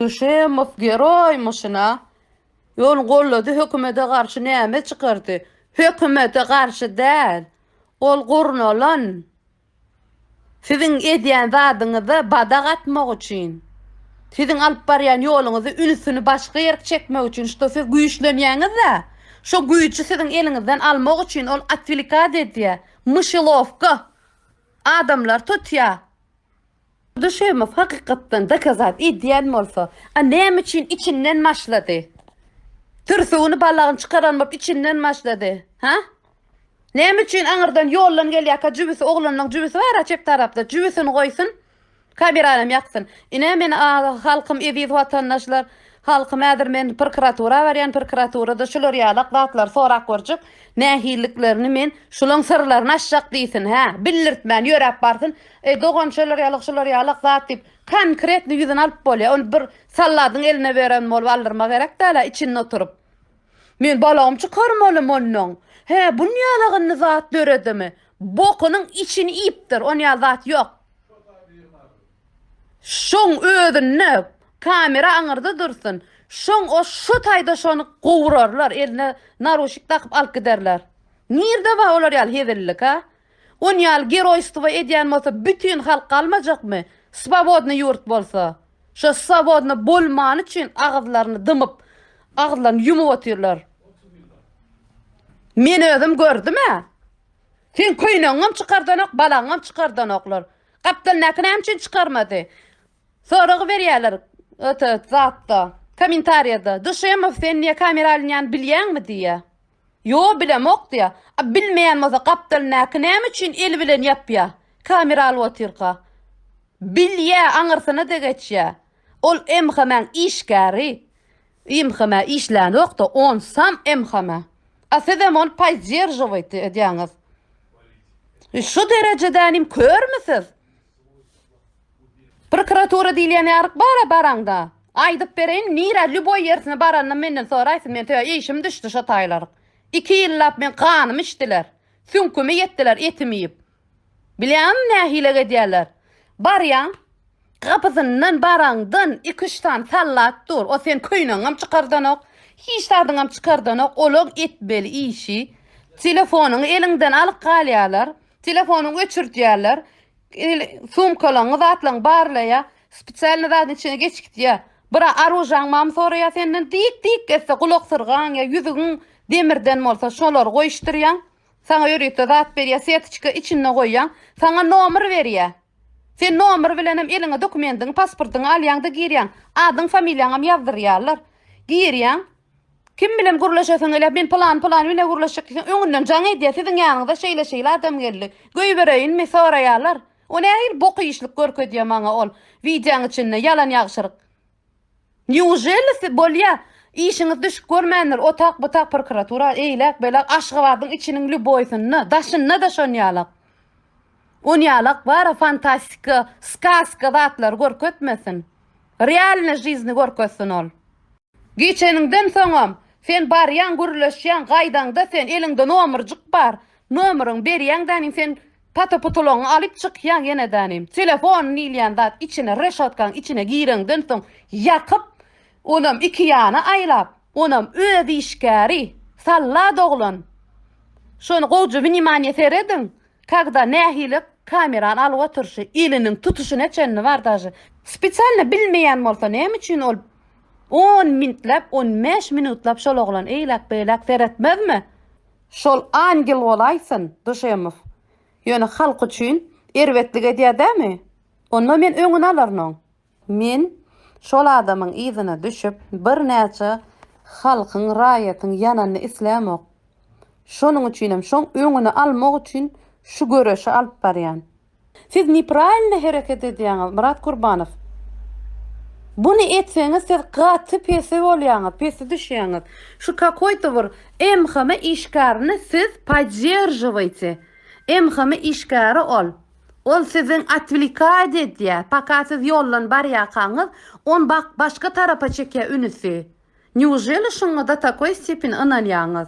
Duşemow geroý myşyna ýol gollady hökümede garşy näme çykardy hökümede garşy däl ol gurnalan siziň edýän zadyňyza badak atmak üçin siziň alyp barýan ýoluňyzy ünsüni başga ýerk çekmek üçin şto siz güýçlenýäňizä şo güýji siziň eliňizden almak üçin ol otwilikat edýä myşylowka adamlar tutýa Duşemow hakykatdan dokazat edýän bolsa, a näme üçin içinden başlady? Türsügini balagyny çykaran bolup içinden başlady. Ha? Näme üçin aňyrdan ýoldan gelýärkä jübüsi oglanlaň jübüsi bar-a çep tarapda jübüsini goýsun. Kamerany hem ýaksyn. Ine meni halkym eziz watandaşlar Halkym häzir men prokuratura barýan prokuraturada şular ýalak zatlary sorap görjek nähilliklerini men şulaň syrlaryny açjak diýsin hä bildirtmän ýöräp barsyn eý dogan şolar ýalak şular ýalak zat diýip konkretno ýüzüni alyp bolýa ony bir salladyň eline beren bolup aldyrma gerek dälä içinde oturyp men balagym çykarmalym onnoň hä bun ýalak indi zat döredimi bokunyň içini iýipdir on ýaly zat ýok. Şoň özünde kamera aňyrda dursun. Şoň o şo taýda şony gowurarlar, eline naruşik dakyp alyp giderler. Nirde bar olar ýaly hezillik ha? On ýaly geroýstwo edýän bolsa bütin halk galmajakmy? Swobodny ýurt bolsa. Şo swobodny bolmany üçin agyzlaryny dymyp, agyzlaryny ýumup otyrlar. Men özüm gördüm-ä. Seň köýnegiňem çykardanok, balaňam çykardanoklar. Gapdaldaky näme üçin çykarmady? Soragy berýärler ota zatda. Komentariýada. Duşemow sen niýe kamera alynýany bilýäňmi diýýä. Ýo bilemok diýýä. A bilmeýän bolsa gapdaldaky näme üçin eli bilen ýapýa? Kamera alyp otyrka. Bilýä aňyrsyna-da geçýä. Ol MHM-iň işgäri. Imhme işlänokda on sam imhme. A sizem ony poizdjeržowaýt edýäňiz. Şu derejedänim körmi siz? Prokuratura diýilýän ýaryk bara baraňda. Aýdyp bereýin nirä lýuboý ýersine baranda menden soraýsyn men töä işim düşdi şo taýlaryk. Iki ýyllap men ganymy içdiler. Süňkümi ýetdiler etim iýip. Bilýäňmi nähili gedýärler? Barýaň, gapysyndan baraňdan iki-üç sany sallat dur. O sen köýnegiňem çykardanok, hiç zadyňam çykardanok. Olaň etmeli işi, telefonyňy eliňden alyp galýarlar, telefonyňy öçürdýärler, sumkalaňy, zatlaryňy barlaýar, spesialnyý zadyň içine geçip gidýär. Bira aružaň barmy soraýar senden, dik-dik etse gulaksyrgaň ýa ýüzügiň demirden bolsa şolary goýuşdyrýaň. Saňa ýörite zat berýär, setiçka içinde goýýaň, saňa nomer berýär. Sen nomer bilenem eliňe dokumendiňi, pasportyňy alýaň-da girýäň. Adyň, familiýaňam ýazdyrýarlar. Girýäň. Kim bilen gürleşesiň gelýär? Men pylan, pylan bilen gürleşjek diýseň, öňünden jaň edýär, siziň ýanyňyza şeýle-şeýle adam geldi. Goýbereýinmi? soraýarlar. O nähili bok işlik görkezýär maňa ol, wideoň içinde, ýalan-ýagşyryk. Nýuželisi bolýa? Işiňiz düşüp görmändir, otag butag prokuratura eýläk beýläk Aşgabadyň içiniň lýuboýsynda, daşynda-da şonýalak. Onýalak bara fantastika, skaska zatlary görkezmesin. Realnyý žizny görkezsin ol. Geçeniňden soňam, sen barýaň gürleşýäň, gaýdaňda sen eliňde nomerjik bar, nomeryňy berýäňdäniň sen Pata-putulaňy alyp çykýaň ýenedänem. Telefon diýilýän zat içine reşotkaň içine gireňden soň ýakyp, onam iki ýana aýlap, onam öz işgäri, sallat oglan. Şony gowja wnimanýe serediň, kagda nähili kamerany alyp oturyşy, eliniň tutuşyna çenli bar daže. Spesialno bilmeýän bolsa näme üçin ol on mintläp, on bäş minutlap şol oglan eýläk-beýläk seretmezmi? Şol angel bolaýsyn Duşemow. Ýöne halk üçin erbetlik edýär dämi? Onda men öňüni alaryn-oň. Men şol adamyň yzyna düşüp, birnäçe halkyň, raýatyň ýananyny islämok. Şonuň üçinem şoň öňüni almak üçin şu göreşi alyp barýan. Siz nepravilno hereket edýäňiz Myrat Kurbanow. Buny etseňiz siz gaty pesi bolýaňyz, pesi düşýäňiz. Şu kakoýto bir MHM işgärini siz podderžiwaýte. MHM işgäri ol. Ol siziň otwlikad edýä. Paka siz ýoldan barýakaňyz on bak başga tarapa çekýä ünüsi. Nýuželi şuňada takoý stepin ynanýaňyz.